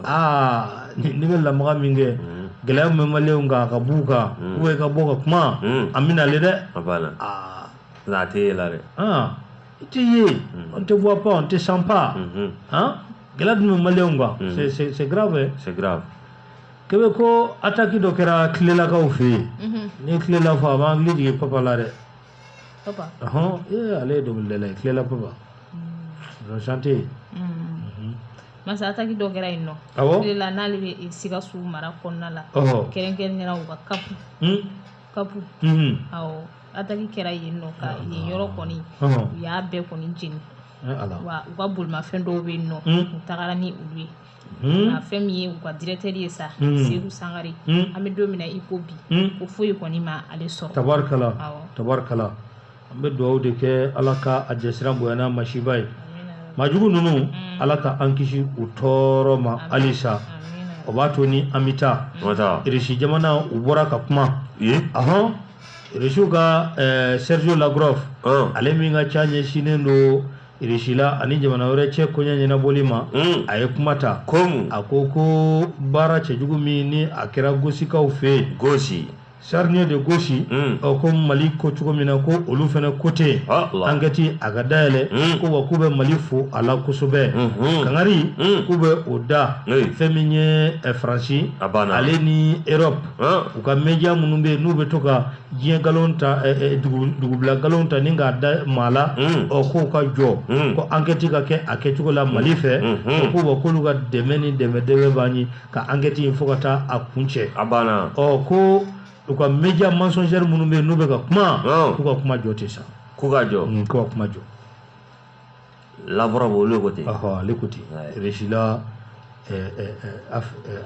aa ni ni bɛ lamaga min kɛ gɛlɛya min bɛ maliyɛnw kan a ka b'u kan ou bien i ka bɔ ka kuma an bɛna le dɛ a banna aa nka a tɛ yɛlɛ dɛ aa i tɛ ye on te voit pas on te sent pas han gɛlɛya dun bɛ maliyɛnw kan mm. c'est c'est c'est grave hein. c'est grave kebe ko ataki dɔ kɛra kilelakaw fɛ yen mm-hmm. n'i ye kilela fɔ a b'an hakili jigin papa la dɛ papa ɔhɔn ee ale ye dɔnkilidala ye kilela papa mm. chante masa ataki dɔ kɛra yen nɔ kilela n'ale bɛ sikaso mara kɔnɔna la kɛrɛnkɛrɛnnenya u ka kapu kapu awɔ ataki kɛra yen nɔ ka yen yɔrɔ kɔni u y'a bɛɛ kɔni jeni wa u ka bolimafɛn dɔw bɛ yen nɔ u tagara ni olu ye nka fɛn min ye u ka dirɛkitɛri ye sa seku sangare an bɛ don min na i ko bi ko foyi kɔni ma ale sɔrɔ tabarikala tabarikala an bɛ dugawu de kɛ ala ka a jasiran bonya n'a masiba ye majugu ninnu ala ka an kisi u tɔɔrɔ ma halisa o b'a to ni an bɛ taa O bɛ taa. irisi jamana u bɔra ka kuma Ye. ahɔn irisiw ka eh, sergio lavrov Ɔn. ale min ka ca ɲɛsinnen don irisi la ani jamana wɛrɛ cɛ koɲɛ ɲɛnabɔli ma Mm. a ye kuma ta Komu. a ko ko baara cɛjugu min ni a kɛra gosikaw fɛ yen Gosi. charnier de Gossi mm. ɔ ko mali ko cogo min na ko olu fana ko ten ah, ankɛti a ka dayɛlɛ mm. ko wa k'u bɛ mali fo a la kosɛbɛ mm-hmm. kankari mm. k'u bɛ o da fɛn min ye eh, faransi ale ni europe ah. u ka media minnu bɛ yen n'u bɛ to ka diɲɛ nkalon ta eh, eh, dugubila nkalon ta ni k'a da maa la ɔ k'u ka jɔ ko ankɛti ka kɛ a kɛcogo la mali fɛ mm-hmm. ko wa k'olu ka dɛmɛ ni dɛmɛ dɛmɛ b'an ye ka ankɛti in fo ka taa a kuncɛ a banna ɔ ko u ka media mensongère minnu bɛ yen n'u bɛ ka kuma k'u ka kuma jɔ ten sa k'u ka jɔ mm, k'u ka kuma jɔ Lavrov olu ko ten ɔhɔ ale ko ten Russie la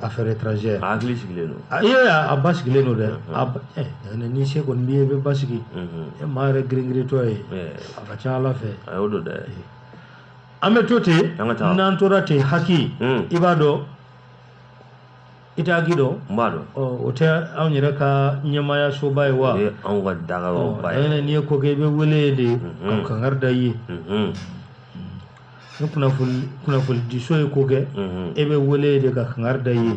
affaire étrangère a hakili sigilen don a ye a basigilen don dɛ a eh, ni se kɔni b'i ye i bɛ basigi mm-hmm. eh, maa yɛrɛ girin-girintɔ ye eh. a ka ca ala fɛ a y'o don dɛ an bɛ to ten n'an tora ten HAC hmm. i b'a dɔn i tɛ HAC dɔn n b'a dɔn o tɛ anw yɛrɛ ka ɲɛmaaya soba ye wa o ye anw ka dagayɔrɔba ye n'i ye ko kɛ i bɛ wele de hmm. ka kankari da i ye hmm. ni kunnafoni kunnafonidiso ye ko kɛ e bɛ wele de ka kankari da i ye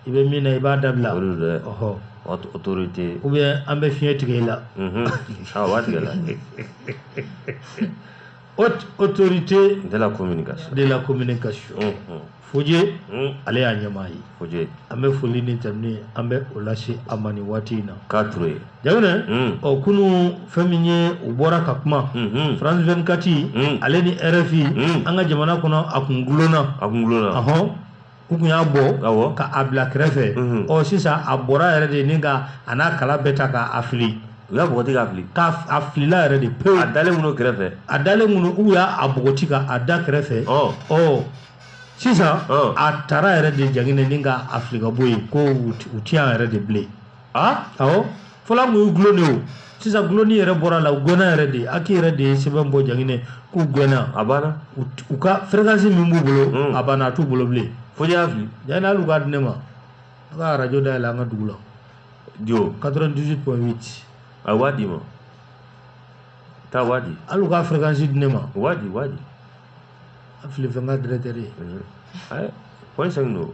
i bɛ min na i b'a dabila ɔhɔ autorité ou bien an bɛ fiɲɛ tigɛ i la a b'a tigɛ la haute autorité de la communication de la communication unhun Foje un ale y'a ɲɛmaa ye Foje an bɛ foli ni tanuni ye an bɛ o lase a ma nin waati in na k'a ture ye jaginɛ un ɔ kunu fɛn min ye u bɔra ka kuma unhun france 24 Mm. ale ni rfi Mm. an ka jamana kɔnɔ a kun gulonna a kun gulonna ɔhɔn u kun y'a bɔ ka a bila kɛrɛfɛ ɔ sisan a bɔra yɛrɛ de ni ka a n'a kala bɛɛ ta k'a fili u y'a bɔgɔti k'a fili a filila yɛrɛ de pewu a dalen minnu kɛrɛfɛ a dalen minnu u y'a bɔgɔti ka a da kɛrɛfɛ ɔ sisan a taara yɛrɛ de jaginɛ ni ka a fili ka bɔ yen ko u tɛ yan yɛrɛ de bilen a awɔ fɔlɔ kun ye gulonni ye o sisan gulonni yɛrɛ bɔra a la u gɛnna yɛrɛ de HAC yɛrɛ de ye sɛbɛn bɔ jaginɛ k'u gɛnna a banna u ka fɛrɛkansi min b'u bolo hmm. a banna a t'u bolo bilen Foje y'a fili jaginɛ hali u k'a di ne ma a ka arajo dayɛlɛ an ka dugu la jo 98 point 8 a w'a d'i ma taa w'a di hali u ka fɛrɛkansi di ne ma w'a di w'a di a fili fɛn ka dɛrɛtɛri ye point 5 don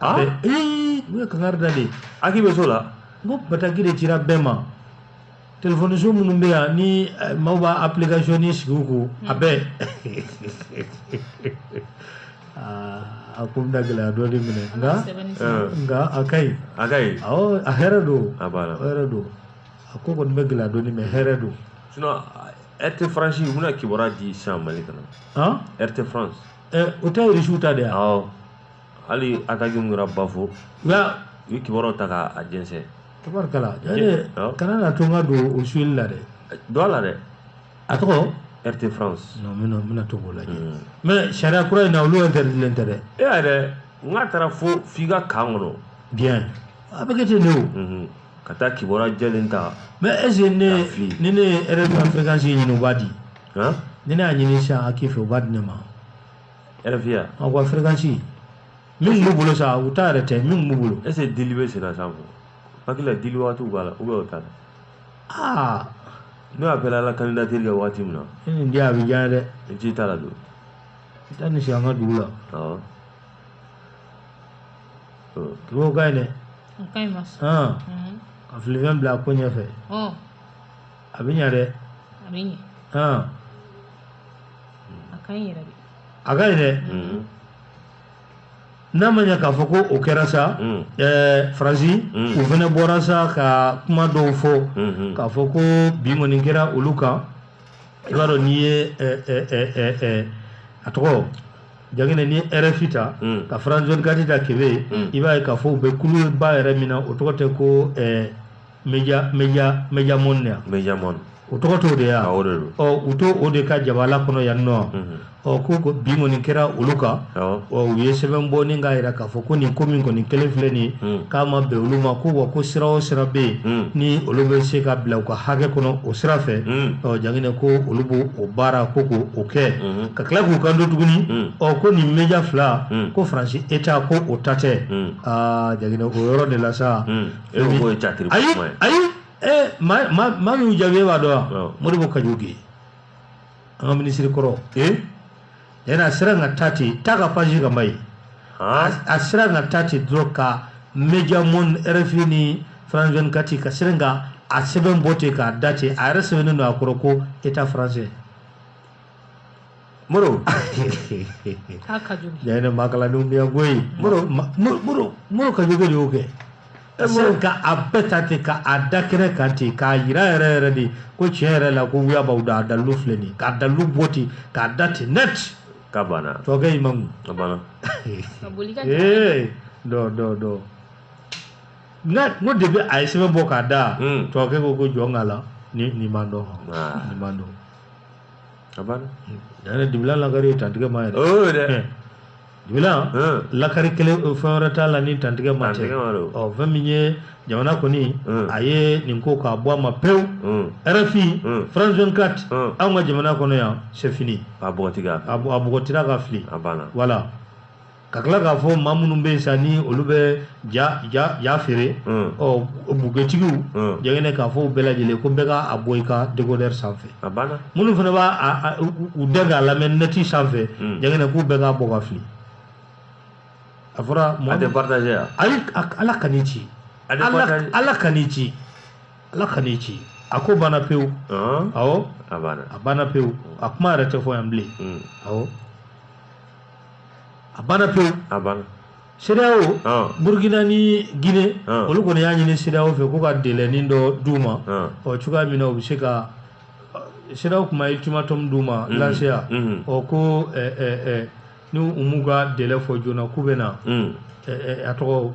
Ah? Mais, ee, ne ye kankari da de ye HAC bɛ so la n ko bataki de cira bɛɛ ma telefɔniso minnu bɛ yan ni eh, maaw b'a application ni sigi u kun a bɛɛ Aa, a ko bɛna gɛlɛya dɔɔni minɛ nka sɛbɛnni Ah, nka a ka ɲi a ka ɲi awɔ a hɛrɛ don a b'a la a hɛrɛ don a ko kɔni bɛ gɛlɛya dɔɔni mɛ hɛrɛ don sinon RT France u bɛna kibaruya di sisan mali kana han RT France Eh, o tɛ irisiw ta de ye awɔ hali ataki min kɛra Bafo u ye kibaruyaw ta k'a jɛnsɛn tabarikala kana na to n ka don o suyeli la dɛ don a la dɛ a tɔgɔ RT France non n bɛna to k'o lajɛ hmm. mais sariya kura in na olu interdilen tɛ dɛ e yɛrɛ n k'a taara fo f'i ka kan kɔnɔ bien a bɛ kɛ ten de o hmm. ka taa kibaruya jɛlen ta mais est ce que ne ni ne ye RFI fréquence ɲini u b'a di ni ne y'a ɲini sisan HAC fɛ u b'a di ne ma RFI ya an ko fréquence min b'u bolo sa u ta yɛrɛ tɛ min b'u bolo est ce que dili bɛ senna sa kɔ HAC la dili waatiw b'a la ou bien o t'a la aa n'o ye appel à la candidature kɛ waati min na e nin di a bɛ diya dɛ i t'i ta ladon i taa nin sigi an ka dugu la awɔ o ka ɲi dɛ ka filifɛn bila a ko ɲɛfɛ a bɛ ɲɛ dɛ a bɛ ɲɛ hɔn a ka ɲi yɛrɛ de a ka ɲi dɛ mm. n'a ma ɲɛ k'a fɔ ko o kɛra sa mm. eh, faransi mm. u fana bɔra sa ka kuma dɔw fɔ mm-hmm. k'a fɔ ko bi kɔni kɛra olu kan i b'a dɔn n'i ye eh, eh, a tɔgɔ janginɛ n'i ye rfi ta mm. ka france 24 ta kebe mm. i b'a ye k'a fɔ u bɛ kuluba yɛrɛ min na o tɔgɔ tɛ ko eh, media media media monde media monde o tɔgɔ t'o de ya o de do ɔ u to o de ka jabala kɔnɔ yan nɔ mhm. ɔ ko ko bi kɔni kɛra olu kan ɔ u ye sɛbɛn bɔ ni k'a yira k'a fɔ ko nin ko min kɔni kelen filɛ nin mhm. k'a ma bɛn olu ma ko wa ko sira o sira bɛ yen mhm. ni olu bɛ se ka bila u ka hakɛ kɔnɔ o sira fɛ ɔ janginɛ ko olu b'o o baara ko k'o o kɛ ka tila k'u kanto tuguni ɔ ko nin media fila ko faransi état ko o ta tɛ aa janginɛ o yɔrɔ de la sa e bɛ bɔ ye catiri ayi kuma ye ayi ee maa maa maa min y'u jaabi e b'a dɔn wa Awɔ. Modibo Kadjoké an ka minisiri kɔrɔ ee yanni a sera ka taa ten taa ka page kan ba ye han a a sera ka taa ten dɔrɔn ka media monde rfi ni france 24 ka sera ka a sɛbɛn bɔ ten k'a da ten a yɛrɛ sɛbɛnnen don a kɔrɔ ko état français moro k'a ka jugu yɛrɛ ne maa kalannenw bɛ yan koyi moro ma- moro moro moro Kadjoké de y'o kɛ Eh, moro ka a bɛɛ ta ten ka a da kɛnɛ kan ten k'a yira yɛrɛ yɛrɛ de ko tiɲɛ yɛrɛ la ko wuya b'aw da a dalilu filɛ nin ye k'a dalilu bɔ ten k'a da ten net k'a banna tɔkɛ i ma mun a banna ka boli ka ee dɔ dɔ dɔ n ka Modibo a ye sɛbɛn bɔ k'a da Mm. tɔkɛ ko ko jɔn k'a la ni nin m'a dɔn Ah. nin m'a dɔn a banna a da dibilan lakari tantigɛ ma dɛ Eh, dibilan hmm. lakari kelen eh, fɛn wɛrɛ t'a la ni tantigɛ ma tɛ ɔ fɛn min ye jamana kɔni hmm. a ye nin ko k'a bɔ a ma pewu hmm. rfi france 24 anw ka jamana kɔnɔ yan c'est fini a bɔgɔtira ka fili voilà ka tila k'a fɔ maa minnu bɛ yen sa ni olu bɛ ja ja ja feere mm. ɔ bugetigiw mm. jɛgɛnɛ k'a fɔ u bɛɛ lajɛlen ko bɛɛ k'a bɔ i ka dekodɛri sanfɛ minnu fana b'a u dɛn k'a lamɛn nɛti sanfɛ mm. jɛgɛnɛ k'u bɛɛ k'a bɔ ka fili a fɔra mɔgɔ tɛ partage ya ayi ala k'an kisi ala k'an kisi ala k'an kisi a ko banna pewu awɔ a banna pewu a kuma yɛrɛ tɛ fɔ yan bilen awɔ a banna pewu a banna CEDEAO Burkina ni Guinée olu kɔni y'a ɲini CEDEAO fɛ ko ka délainin dɔ d'u ma ɔ cogoya min na u bɛ se ka CEDEAO kuma ultimatum d'u ma lanseya ɔ ko ni u m'u ka délai fɔ joona k'u bɛna a to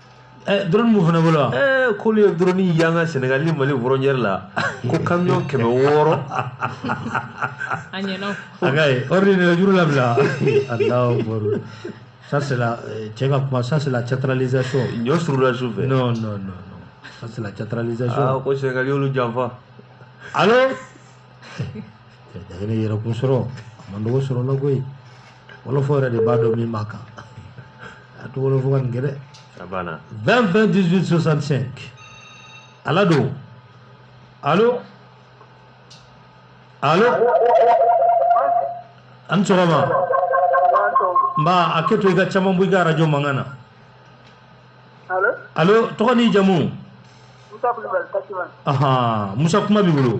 Eh, drone b'u fana bolo wa eh, k'olu ye drone yan ka senegal ni mali frontière la ko camion kɛmɛ wɔɔrɔ a ka ye ordre nɛgɛjuru labila alahu akbar ça c'est la euh, cɛ ka kuma ça c'est la théâtralisation ɲɔ surula su fɛ non non non non ça c'est la théâtralisation ah ko senegal y'olu janfa allo dagene yɛrɛkun sɔrɔ a man dogo sɔrɔla koyi wolofɔ yɛrɛ de b'a dɔn min b'a kan a to wolofɔ ka nin kɛ dɛ 20 20 18 65 ala don alo alo a ni sɔgɔma nba a kɛ to i ka caman bɔ i ka arajo mankan na alo tɔgɔ ni jamu musa kulibali aha musa kuma b'i bolo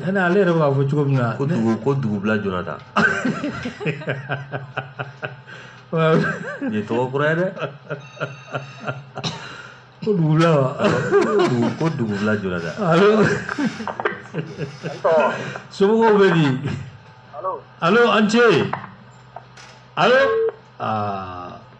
Yanni ale yɛrɛ b'a fɔ cogo min na ko dugu ko dugubila jɔna ta nin ye tɔgɔ kura ye dɛ ko dugubila wa ko dugubila jɔna ta somɔgɔw bɛ di alo an ce alo aa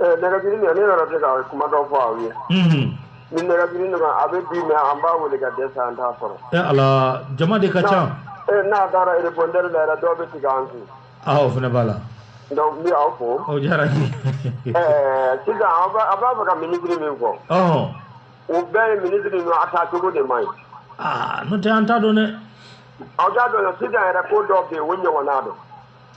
Nɛgɛjuru ne nana se ka kumada fɔ aw ye ni nɛgɛjuru nana a bɛ bi mɛn an b'a weele ka dɛsɛ an t'a sɔrɔ ala jama de ka ca n'a taara répondeur la dɔw bɛ tigɛ an kun aw fana b'a la donc n b'aw fo diyara sisan a b'a fɛ ka ministre min fɔ o bɛɛ ye ministre a tɔgɔ de ma ye nɔntɛ an t'a dɔn ne aw t'a dɔn sisan yɛrɛ ko dɔ bɛ yen o ɲɔgɔn don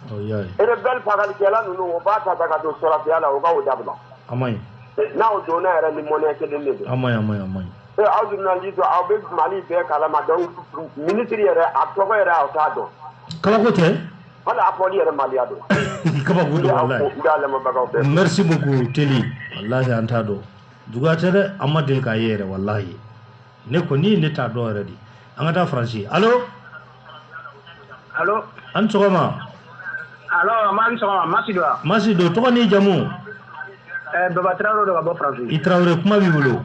rebelle fagalikɛla ninnu o b'a ta ta ka don sɔrɔdasiya la o ka o dabila a man ɲi n'aw donna yɛrɛ ni mɔnɛ kelen de don a man ɲi a man ɲi a man ɲi ee aw journaliste don aw bɛ Mali bɛɛ kalama donc ministre yɛrɛ a tɔgɔ yɛrɛ aw t'a dɔn kabako tɛ hali a fɔli yɛrɛ maliya don kabako don walayi n b'a lamɛnbagaw bɛɛ fo. merci beaucoup Teli walahi an t'a dɔn juguya tɛ dɛ an ma deli k'a ye yɛrɛ walahi ne kɔni ne t'a dɔn yɛrɛ de an ka taa faransi alo alo an ni sɔgɔma alo ma ni sɔgɔma masi don wa masi don tɔgɔ n'i jamu eh, baba tarawele don ka bɔ faransi i tarawele kuma b'i bolo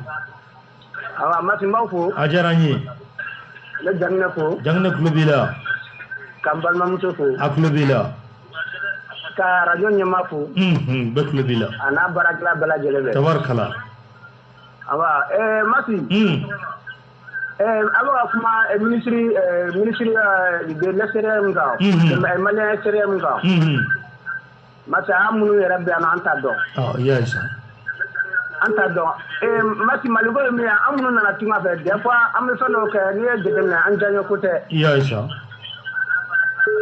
awa masi n b'aw fo a diyara n ye ne jaginɛ fo jaginɛ tulo b'i la ka n balimamuso fo a tulo b'i la ka arajo ɲɛmaa fo bɛɛ tulo b'i la a n'a baarakɛla bɛɛ lajɛlen bɛɛ tabarikala mati aw bɛ ka kuma minisiri ministre de l'extérieur kan malien extérieur kan mati an minnu yɛrɛ bɛ yan an t'a dɔn an t'a dɔn mati mali ko ye min ye an minnu nana tunga fɛ des fois an bɛ fɛn dɔw kɛ n'i y'a jate minɛ an diyanyeko tɛ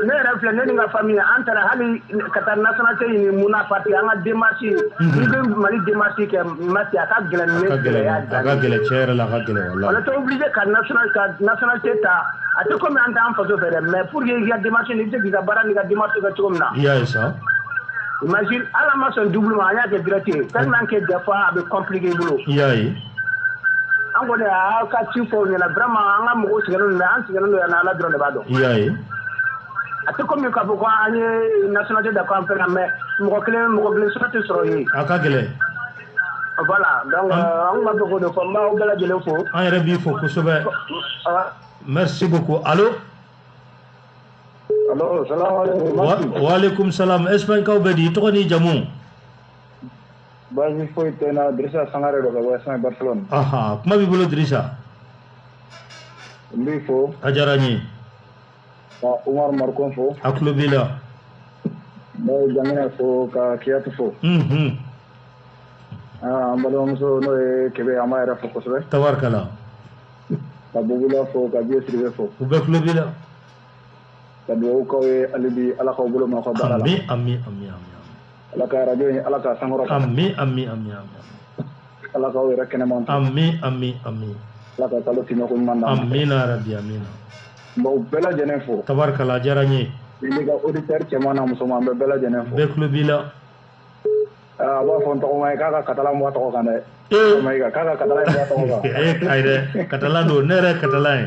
ne yɛrɛ filɛ ne ni n ka famille an taara hali ka taa nationalité ɲini mun na parce que an ka démarche mhm. n'i bɛ mali démarche kɛ masi a ka gɛlɛn ne gɛlɛya a ka gɛlɛn cɛ yɛrɛ la a ka gɛlɛn walayi on était obligé ka national ka nationalité ta a tɛ komi an t'an faso fɛ dɛ mais pour que i ka démarche ni i bɛ se k'i ka baara n'i ka démarche kɛ cogo min na i y'a ye sa imagine ala ma sɔn double ma an y'a kɛ direct ye tellement que des fois a bɛ compliquer i bolo i y'a ye an kɔni aw y'an ka ci fɔ u ɲɛna vraiment an ka mɔgɔw sɛgɛnnen don an sɛgɛnnen don yan Ala dɔrɔn de b'a dɔn. I y'a ye. A tɛ komi k'a fɔ ko an ye nationalité ta ko an fɛn na mais mɔgɔ kelen mɔgɔ kelen sɔrɔ tɛ sɔrɔ yen. A ka gɛlɛn. Voilà donc an tun b'a fɛ k'o de fɔ n b'aw bɛɛ lajɛlen fo. An yɛrɛ b'i fo kosɛbɛ. Merci beaucoup allo. Allo salamuhalekum. Wa walekum salam Espagne kaw bɛ di i tɔgɔ n'i jamu. baasi foyi tɛ n na dirisa sangare don ka bɔ ɛsipaɲi bariselɔni ahan kuma b'i bolo dirisa n b'i fo a diyara n ye ka umaru marikɔn fo a tulo b'i la n bɛ jaginɛ fo ka kiyatu fo unhun ah, an balimamuso n'o ye kebe an b'a yɛrɛ fo kosɛbɛ tabarikala ka bugula fo ka biye siribe fo u bɛɛ tulo b'i la ka dugawu k'aw ye halibi ala k'aw bolo ma ka baara la amiina ala ka arajo in ala k'a sankɔrɔ amiina ala k'aw yɛrɛ kɛnɛman amiina ala ka kalo tiɲɛko ɲuman na amiina yarabi amiina n b'aw bɛɛ lajɛlen fo tabarikala diyara n ye n'i ka auditeur cɛman na musoman bɛɛ bɛɛ lajɛlen fo bɛɛ tulo b'i la a b'a fɔ n tɔgɔma ye k'a ka katala mɔgɔ tɔgɔ kan dɛ k'a ka katala ye mɔgɔ tɔgɔ kan ee ayi dɛ katala don ne yɛrɛ katala ye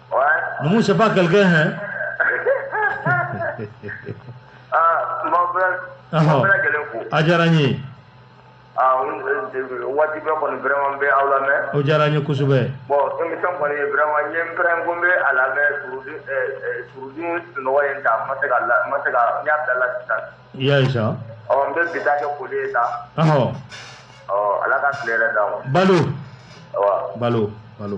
Numu c'est pas quelqu'un hein ah, ma bɛ ma bɛ gɛlɛn ko a diyara n ye ah, waati bɛɛ kɔni vraiment n bɛ aw lamɛn o diyara n ye kosɛbɛ bon émission kɔni vraiment n ye n pɛrɛn ko n bɛ a lamɛn surɔ dun surɔ dun sunɔgɔ ye n ta n ma se ka la n ma se ka n y'a bila la sisan i y'a ye sa ɔ n bɛ bi ta kɛ foli ye sa ɔ ala ka tile hɛrɛ d'an ma balo balo balo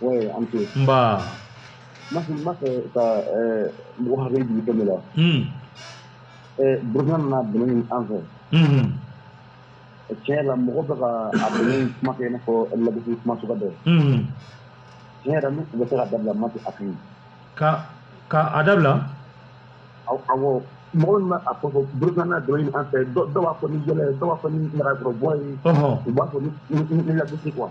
Oui, an ce. Nba. N b'a fɛ ka mɔgɔ hakili jigin fɛn dɔ la. Burukina nana dɛmɛ ɲini an fɛ. Tiɲɛ yɛrɛ la mɔgɔ bɛ ka a dɛmɛ in kuma kɛ i n'a fɔ lagosi kuma suguya dɔ. Tiɲɛ yɛrɛ la n'u tun bɛ se k'a dabila Mati a ka ɲi. Ka a dabila? Awɔ mɔgɔ min bɛ a fɔ ko Burukina nana dɛmɛ ɲini an fɛ dɔw b'a fɔ ni yɛlɛ ye dɔw b'a fɔ ni ɲagaribɔ ye. U b'a fɔ ni lagosi quoi.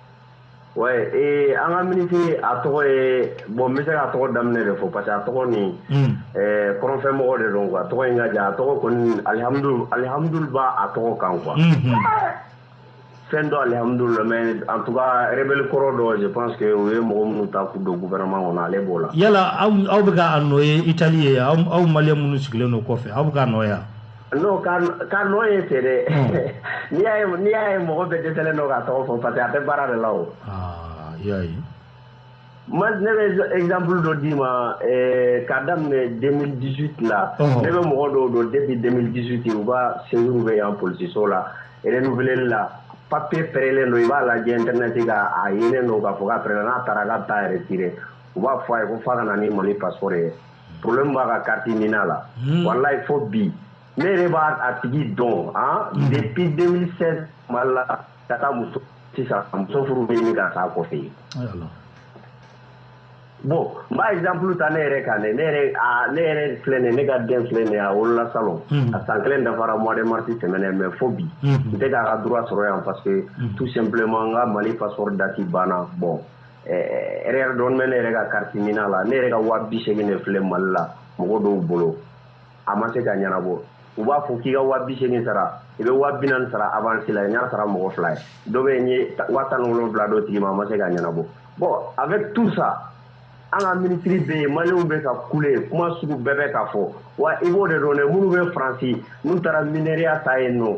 ee an ka minisiri a tɔgɔ ye bɔn n bɛ se k'a tɔgɔ daminɛ de fɔ parce que a tɔgɔ nin hmm. kɔrɔnfɛmɔgɔ de don a tɔgɔ in ka jan a tɔgɔ kɔni alihamudu alihamudu b'a a tɔgɔ kan quoi hmm, hmm. fɛn dɔ alihamudu la mais en tout cas rebelle kɔrɔ dɔ je pense que u ye mɔgɔ minnu ta k'u don gouvernement kɔnɔ ale b'o la yala aw aw bɛ k'a nɔ ye Italie yen aw aw maliyɛn minnu sigilen don kɔfɛ aw bɛ k'a nɔ ye wa N'o ka n'o ye fɛ dɛ n'i y'a ye mɔgɔ bɛ dɛsɛ dɔ ka tɔgɔ fɔ parce que a bɛ baara de la o ma ne bɛ ezanpuru dɔ d'i ma ka daminɛ den disu la ne bɛ mɔgɔ dɔw don den bɛ den disu ten u ka segu bɛ yan psiso la nfi la papiye fɛrɛlen don i b'a la diɲɛ tɛmɛ se ka a yelen don ka fɔ ka fɛ n'a taara ka taa yɛrɛ u b'a fɔ a ye ko fa ka ni mali pasɔrɔ ye problème b'a ka carte NINA la hmm. wallahi fo bi ne yɛrɛ b'a a tigi dɔn han hmm. depuis 2016 mali la ka taa muso sisan muso furu bɛ ɲini ka sa kɔfɛ yen bon n b'a exemple ta ne yɛrɛ kan dɛ ne yɛrɛ a ne yɛrɛ filɛ nin ne ka den filɛ nin ye a wolola salon hmm. a san kelen dafara mois de mars tɛmɛnen mais fo bi n tɛ k'a ka droit sɔrɔ yan parce que tout simplement n ka mali passeport date banna bon dɔɔnin bɛ ne yɛrɛ ka carte NINA la ne yɛrɛ ka waa bi segin de filɛ mali la mɔgɔ dɔw bolo a ma se ka ɲɛnabɔ u b'a fɔ k'i ka waa bi segin sara i bɛ waa bi naani sara avance la n y'a sara mɔgɔ fila ye dɔ bɛ yen n ye waa tan ni wolonwula d'o tigi ma a ma se ka ɲɛnabɔ bon avec tout ça an ka minisiri bɛ yen maliyɛnw bɛ ka kule kuma sugu bɛɛ bɛ ka fɔ wa i b'o de dɔn dɛ minnu bɛ faransi n'u taara miya ta yen nɔ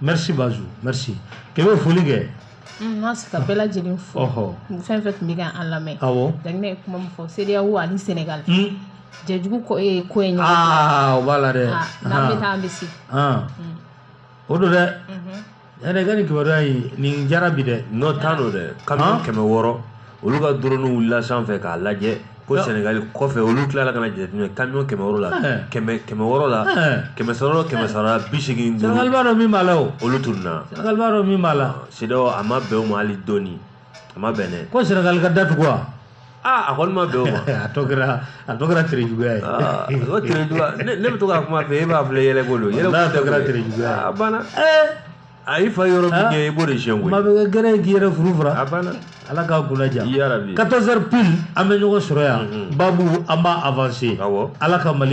merci Bazou merci k'e bɛ foli kɛ. N ma se ka bɛɛ lajɛlen fo. Ɔhɔ. Fɛn fɛn tun bɛ ka an lamɛn. Awɔ. Donc ne ye kuma min fɔ CEDEAO ani Senegal. Un. Jɛjugu ko ee ko ye ɲɔgɔn. Aa o b'a la dɛ. Aa n'an bɛ taa an bɛ se. Ɔn. O don dɛ. Unhun. Yɛrɛ ka nin kibaruya in nin diyara bi dɛ. N'o t'a don dɛ. Kamiyon kɛmɛ wɔɔrɔ olu ka drone wulila sanfɛ k'a lajɛ. ko sɛnɛgali kɔfɛ olu tilala ka na jateminɛ kamiyon kɛmɛ wɔɔrɔ la kɛmɛ kɛmɛ wɔɔrɔ la kɛmɛ sɔrɔ kɛmɛ saba bi seegin duuru sɛnɛgali b'a dɔn min b'a la o olu tununna sɛnɛgali b'a dɔn min b'a la CEDEAO a ma bɛn o ma hali dɔɔni a ma bɛn dɛ ko sɛnɛgali ka datugu wa aa a kɔni ma bɛn o ma a tɔ kɛra a tɔ kɛra tere juguya ye o tere juguya ne bɛ to k'a kuma fɔ e b'a filɛ yɛlɛko don yɛlɛko tɛ kɛra tere juguya ye a banna a y'i fa yɔrɔ min kɛ i b'o de siyɛn koyi. maa bɛ kɛ gɛrɛ ye k'i yɛrɛ furu fura. a banna. ala k'a kunna diya. yarabi. 14 heures pile an bɛ ɲɔgɔn sɔrɔ yan. baabu an b'a avancer. awɔ. ala ka mali